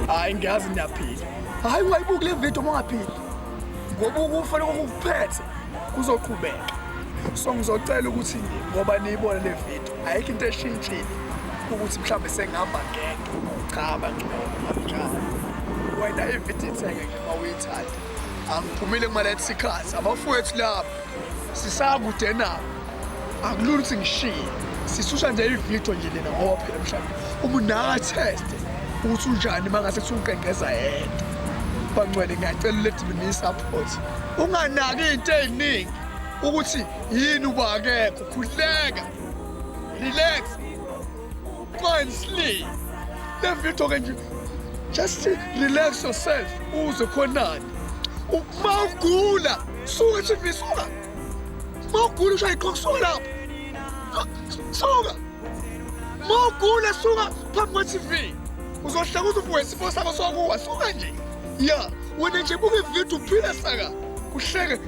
hayi ngiyazi niyaphila hayi ungayibuki le video uma ungaphili ngoba ukufa lokho kukuphethe kuzoqhubeka so ngizocela ukuthi ngoba niyibone le video ayikho into eshintshile ukuthi mhlawumbe sengihamba ngedwa cha banjalo wena ivithi ithenge uma uyithanda angiphumile kumalathi sikhathi abafowethu lapho sisakude nabo akulula ukuthi ngishiye sisusa nje ividiyo nje lena ngoba phela mhlawumbe uma unakatheste ukuthi unjani uma ngase kuthi uqengeza yedwa bangcwele ngiyacela uledimini isaphoti unganaki into ey'ningi ukuthi yini uba akekho khuleka relax go and sleep levithoke nje just relax yourself uze khonani uma ugula suka chifi suka uma ugula ushaye iqoka suka lapho suka uma ugula suka phambi kwe-tv uzohleka uze uvuke isifo sakho sokuwa suka nje ya wena nje buke ividiyo uphile saka uhleke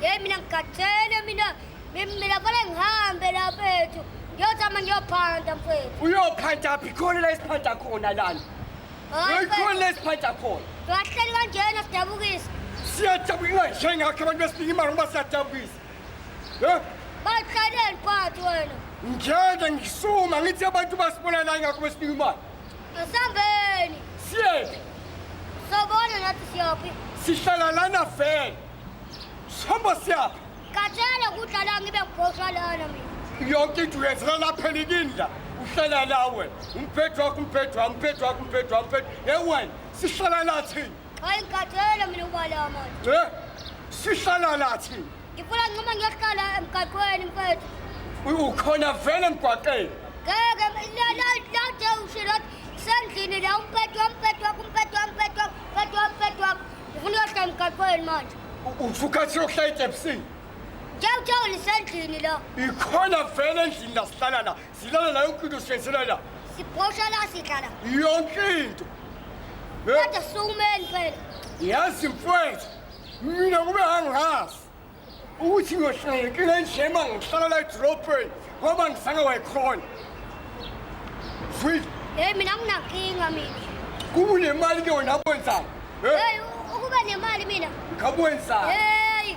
Yeyi mina ngigathele mina mina vele ngihambe lapha ethu ngiyozama ngiyophanda mfethu uyophanda phi khona la esiphanda khona lana uyikhona la esiphanda khona ngahleli kanjena sidabukisa siyadabuka ingayishayi ngakho abantu besinika imali ngoba siyadabukisa um bayihlaleni phathi wena ngiyanda ngisuma ngithi abantu basibona la ngakho besinika imali Asambeni. Siyephi? Sobona nathi siyaphi. Sihlala lana vele. Sihamba siyaphi? Kathele kudla la ngibe ngibhoshwa lana mina. Yonke into yenzeka lapha enikindla. Uhlala la wena. Umphethu wakho umphethu wami, umphethu wakho umphethu wami, umphethu. Hey wena, sihlala la thina. Hayi ngikhathele mina ubala manje. Eh? Sihlala lathi. Ngifuna nqoma ngiyohlala emgaqweni mfethu. Ukhona vele emgwaqeni. Ngeke la la la de ushilo sendlini la umpethu umpethu umpethu umpethu umpethu umpethu. Ngifuna uyohlala emgaqweni manje. Usukathi yohlala eTepsini. Ngiyawuthola isendlini la. Ikhona vele endlini la sihlala la. Silala la yonke into sifensela la. Sibhosha la sidla la. Yonke into. Kodwa siwumeni phela. Yazi mfowethu. Mina kube angazi. Ukuthi ngiyohlangekile njema ngihlala la edrobheni ngoba ngisake wayikhona. Sweet. Hey mina nginankinga mina. Kunemali ke wena kwenzani? Hey ukube nemali mina. Ngabwenzani? Hey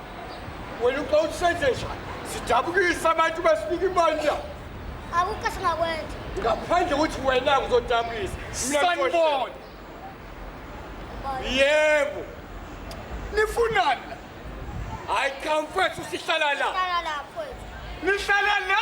wena uba usenze njani sidabukise abantu basinika ibandla akukho singakwenza ngaphandle ukuthi wena uzodabukisa sanibona yebo nifunani la hayi cha mfethu sihlala la nihlala la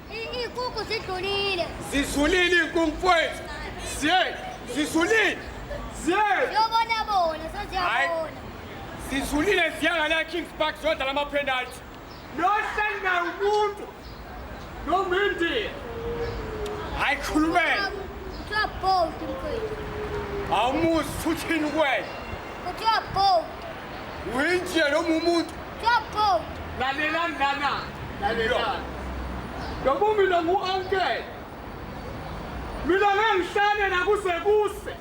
Iy'nkukhu zidlulile. Zidlulile iy'nkukhu mfowethu. Siye, zidlulile. Siye. Yobona bona, seziyabona. Zidlulile ziyanga la Kings Park zodla lama penalty. Nohleli naye umuntu. Nomindi. Hayi khulumela. Kuthiwa bold mfowethu. Awumuzi futhini kwena. Kuthiwa bold. uyinjena noma umuntu lalela mntana lalela ngoba mina ngu-ankele mina ngengihlale nakuze kuse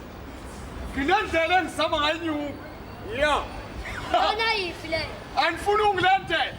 nginendlela engizama ngayinyuka ya anifuni ungilandela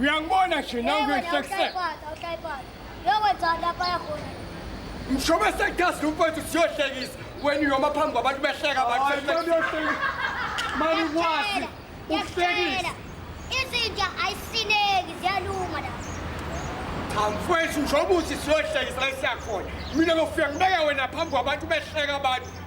Uyangibona nje nawe ngisekusele. Mshoba sekugasi umfowethu siyohlekisa wena uyoma phambi kwabantu behleka bakuyohlekisa. Mani kwazi ukuhlekisa. Izinja ayisineki ziyalunga la. Cha mfowethu njengoba uthi siyohlekisa la siyakhona. Mina ngofika ngibeke wena phambi kwabantu behleka abantu.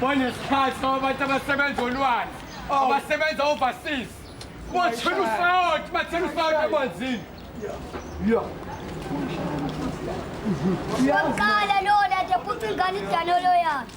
banesikhathi abantu abasebenza olwandle oh. abasebenza overseas bathela usawoti bathela usawoti emanzini Uqala lona nje futhi ingane idalolo yakhe.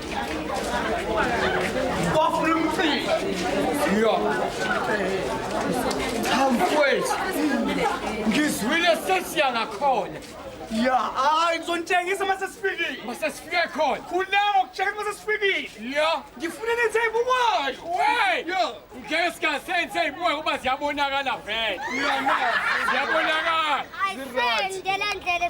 Hamfwethu, ngizwile sesiya ngakhona ya hayi ngizonitshengisa uma sesifikile uma sesifike khona khulama ukutshengisa uma sesifikile ya ngifuna nenze ibukayo we ngeke singasenze ibukayo kuba ziyabonakala vele ziyabonakala ayisendela ndlela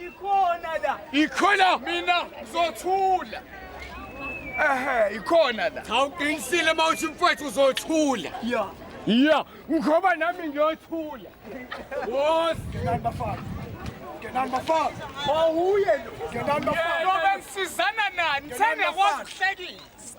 Ikhona la. Ikhona mina ngizothula. Ehhe ikhona la. Cha uqinisile mawuthi mfowethu uzothula. Yeah. Yeah, ngoba nami ngiyothula. Wosi ngenani bafana. Ngenani bafana. Mawuye lo. Ngenani bafana. Ngoba ngisizana nani? Sengakwazi ukuhlekisa.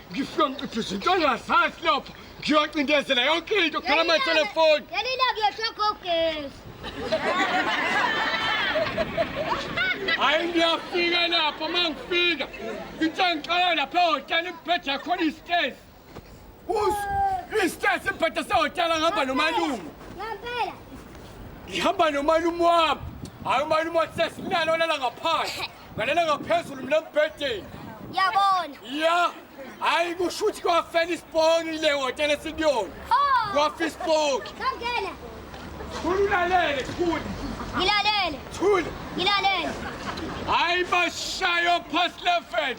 ngifike ngiqiphe izinto engazansi lapho ngiyocindezela yonke into khala amatelefoni yalila kuyoshokha ugesi hayi ngiyafika lapho uma ngifika into engiqala lapha ehhotela ibheda khona istezi istezi ibheda sehhotela ngihamba nomalume ngihamba nomalume wami hayi umalume wathi sesinalo lala ngaphandle Ngalela ngaphezulu mina mbhedeni. Yabona. Ya. Hayi kusho ukuthi kwafela isiponi le hotela esikuyona. Ho! Kwafa isiponi. Sangena. Thula ulalele, thula. Ngilalele. Thula. Ngilalele. Hayi bashayo past 11.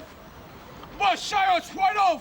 Bashayo 12.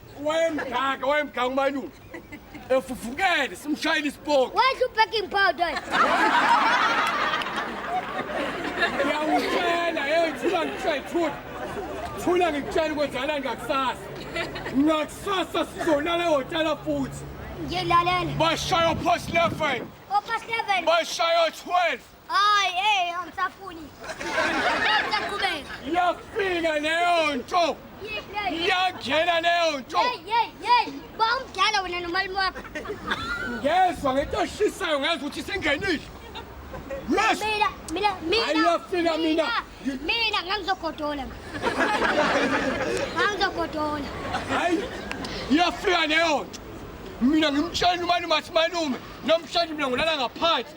wayemdaka wayemdaka umalume efufukele simshayile isipoki Where's your baking powder? ngiyawutshela hey thula ngikushaya thula thula ngikutshela kwenzakala ngakusasa ngakusasa sizolala ehhotela futhi Ngilalela. bashaya ophosi 11 Opha 7. bashaya 12 Hayi, hey, angisafuni. Ngisaqhubeka. Iyafika leyo nto. Iyangena leyo nto. Hey, hey, hey. Ba umdala wena nomalume wakho. Ngezwa ngento eshisayo ngezwa ukuthi singenile. Yes. Mina, mina, mina. Ayiyafika mina. Mina ngangizogodola. Ngangizogodola. Hayi. Iyafika leyo nto. Mina ngimtshela umalume athi malume, namhlanje mina ngilala ngaphansi.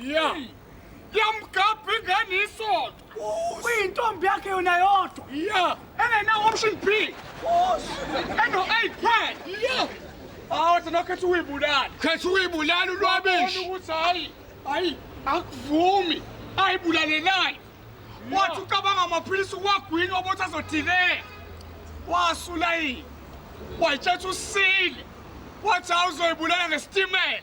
ya yamgabha ingane isonto kuyintombi yakhe yona yodwa ya engenawo-option b eno-eight pad ya awu thina khetha ukuyibulala khetha ukuyibulala ulwabishi ukuthi hhayi hhayi akuvumi ayibulalelani wathi ucabanga amaphilisi uwagwini obothi azothileka wasula yini wayitshetha usile wathi awuzoyibulala ngesitimela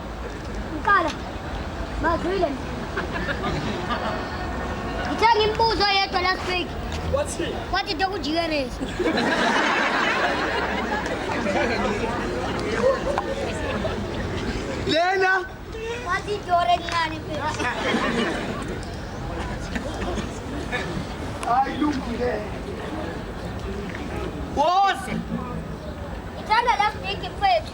Uqala. Mazwile. Ngithe ngimbuzo yedwa last week. Wathi wathi dokujikeleza. Lena wathi dore ngani phela. Ay lungile. Wose. Ngithanda last week mfethu.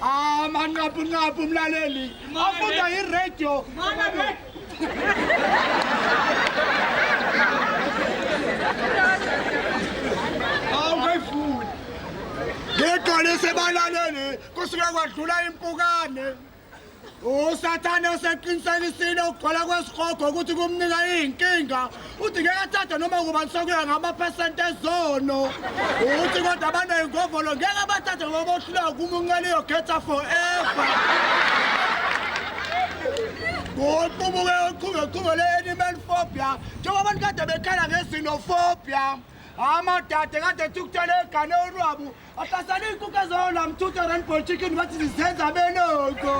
amanqabunqabu umlaleli afunda iradio awungayifuni ngigcwalise balaleli kusuke kwadlula impukane usathane oseqinisekisile ukugcwala kwesihogo ukuthi kumnika iy'nkinga uthi ngeke athathe noma kubani sokuya ngamaphesenti ezono ukuthi kodwa abanoyingovolo ngeke abathathe ngoba bohluleka kuma unqela iyokhetha forever ngoqubuke uqhubekuqhube le-animal phobia njengoba abantu kade bekhala ngezinofobia amadade kade ethi ukuthola egane olwabu Abazali ikuke zona mthutha rainbow chicken bathi zizenza benoko.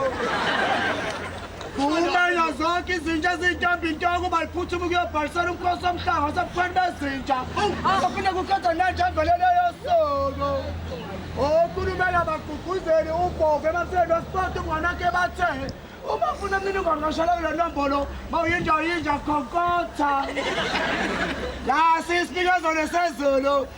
Kumele zonke izinja ezintombi intoko baliphuthuma ukuyobhalisela umkhosi omhlanga wasebukhweni bezinja. Azophinde kukhetha nenja evelele yosoko. Okhulumele abagqugquzeli ubhova emafeni wesipoti umnganakhe bathe uma ufuna imininingwane kashela kule nombolo mawuyinja uyinja khokotha. Lasi isinikazwane sezulu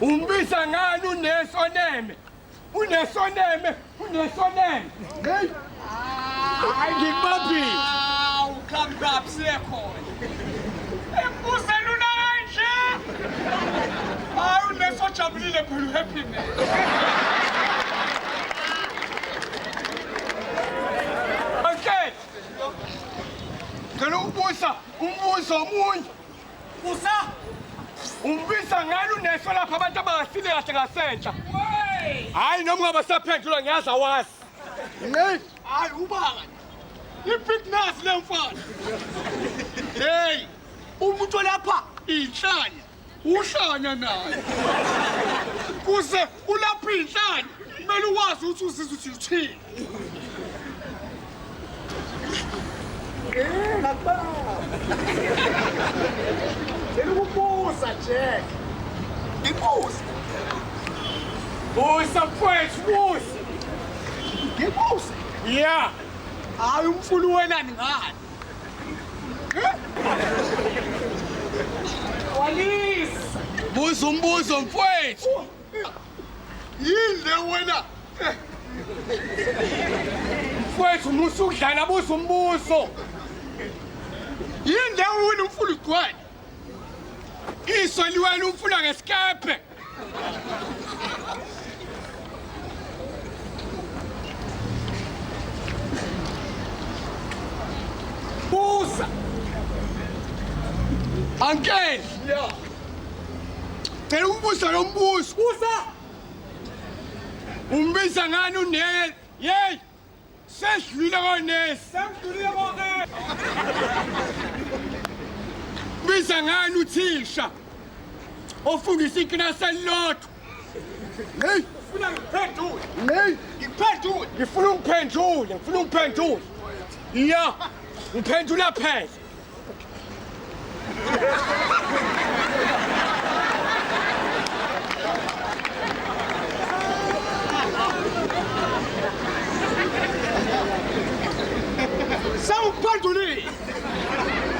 Umbiza ngani unesoneme? Unesoneme, unesoneme. Hey. Hayi ngibaphi? Awu, come up siyakhona. Embuza lula kanje. Hayi unesojabulile phela uhappy man. Okay. Ngicela ukubuza umbuzo omunye. Usa umbisa ngani uneso lapha abantu abangafile kahle ngasentsha. Hayi noma ungaba saphendula ngiyazi awazi. Hey, hayi ubanga. Ibig nasi le mfana. Hey, umuntu olapha inhlanya. Uhlanya naye. Kuze ulapha inhlanya. Kumele uwazi ukuthi uzizwa ukuthi uthini. Ngilukubuza Jack. Ngibuza. Busa mfowethu busa. Ngibuza. Yeah. Hayi umfulu wena ngani? Walisa. Buza umbuzo mfowethu. yini le wena mfowethu musa ukudlala buza umbuso yini le wena umfula ugcwele iso liwena umfula ngesikephe buza angeli yeah. Cela umbuso lo mbuso. Busa. Umbiza ngani unele? Yey! Sesidlule konesi. Sengidulile bonke. Biza ngani uthisha? Ofundisa ikilasi elilodwa. Hey! Funa ngiphendule. Hey! Ngiphendule. Ngifuna ungiphendule, ngifuna ungiphendule. Ya, ngiphendula phela. Sewuphendulile.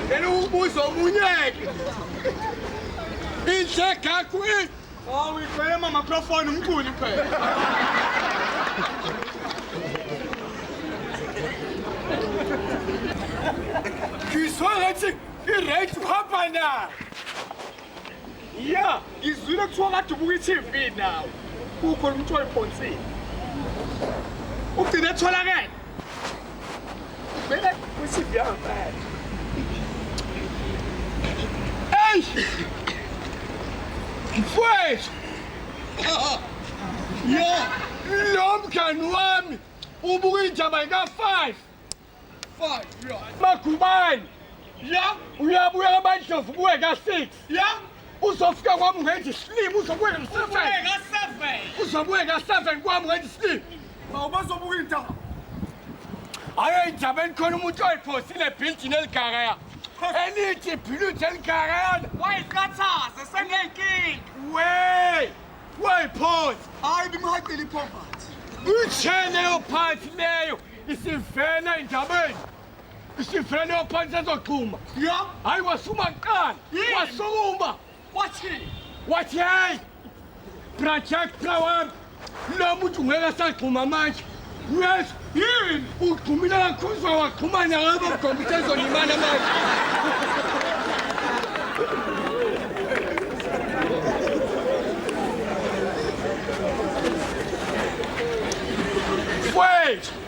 Ngeke ubuzo omunye. Inhle kakho Oh, we play my microphone, I'm cool, you play. Ngizwa ngathi i-right uhamba na ya ngizwile kuthiwa kade ubuka i-tv nawo kukhona umntu oyiphonsile ugcine etholakele mfowethu yo lo mngani wami ubuka indaba ika-five magubane ya uyabuya abandlovu kuwe ka-six yam uzofika kwam ngenje isilima uzobuye uzobuye ka-seven kwam ngenje isilima awubazobuka indaba ayo indaba enikhona umuntu oyiphosile ebhilidini eligakaya elithi ibhilidi eligakayana wayiqathaze sengenkinga we wayiphosi hayi bimhaqile iphovathi utsheleyo phansi leyo isivela endabeni Isifrene ophansi ezoxhuma. Yo. Hayi wasuma kuqala. Wasuma. Wathini? Wathi hey. Project Flower. Lo muntu ngeke asagxuma manje. Yes. Yini? Ugxumile kakhulu uzwa waxhumana ngabo mgomba ukuthi ezolimala manje. Wait!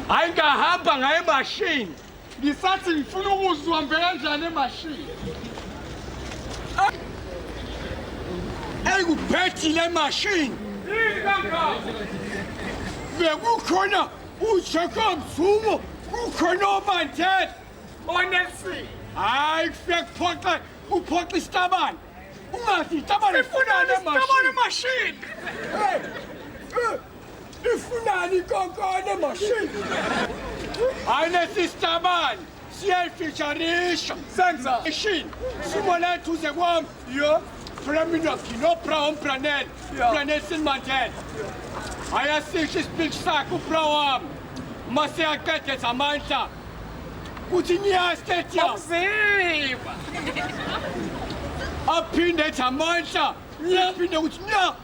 hayi ngahamba ngaye mashini ngisathi ngifuna ukuzwa mbe kanjani emashini eyikuphethile emashini bekukhona ujacob zumo kukhona obanthethe onelson hayi kufike kuphoxe kuphoxa isitabane ungathi itabane sifunane emashini Ifunani kokone machine. Ayine sister bani. Siyayifisharisha. Senza. Machine. Sumo lethu uze kwami. Yo. Preminoski no brown planel. Planel sin mantel. Ayasisha ispeech sakho brown. Mase akete zamandla. Kuthi niyastetya. Umzimba. Aphinde zamandla. Yaphinde ukuthi nya.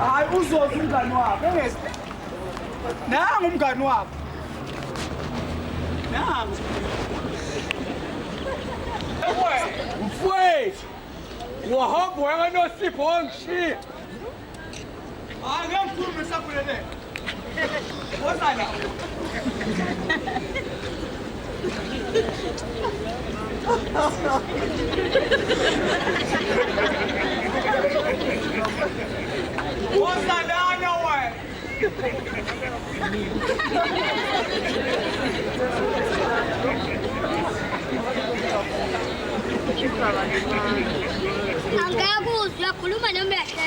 Hayi uzoza umngani wakho engezi. Nangu umngani wakho. Nangu. Mfwethu. Wahamba wena nosipho ongishiya. Hayi ngikhulume sakhuleleka. Angaya kuzwa khuluma nomehlo.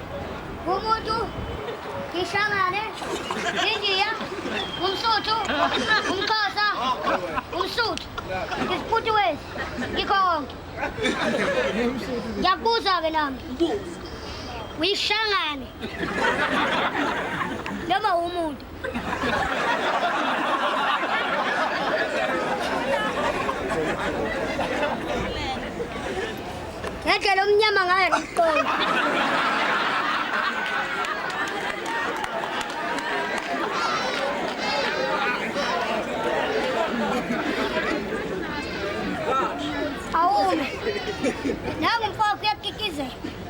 Umutu ngishamane India umsuthu umxhosa umsuthu ngisifuthi wezi ngikho konke ngiyakubuza-ke nami uyishangane noma umuntu Ngendlela omnyama ngayo ngikuqonda. Awume. Nangu mfowethu uyakikizela.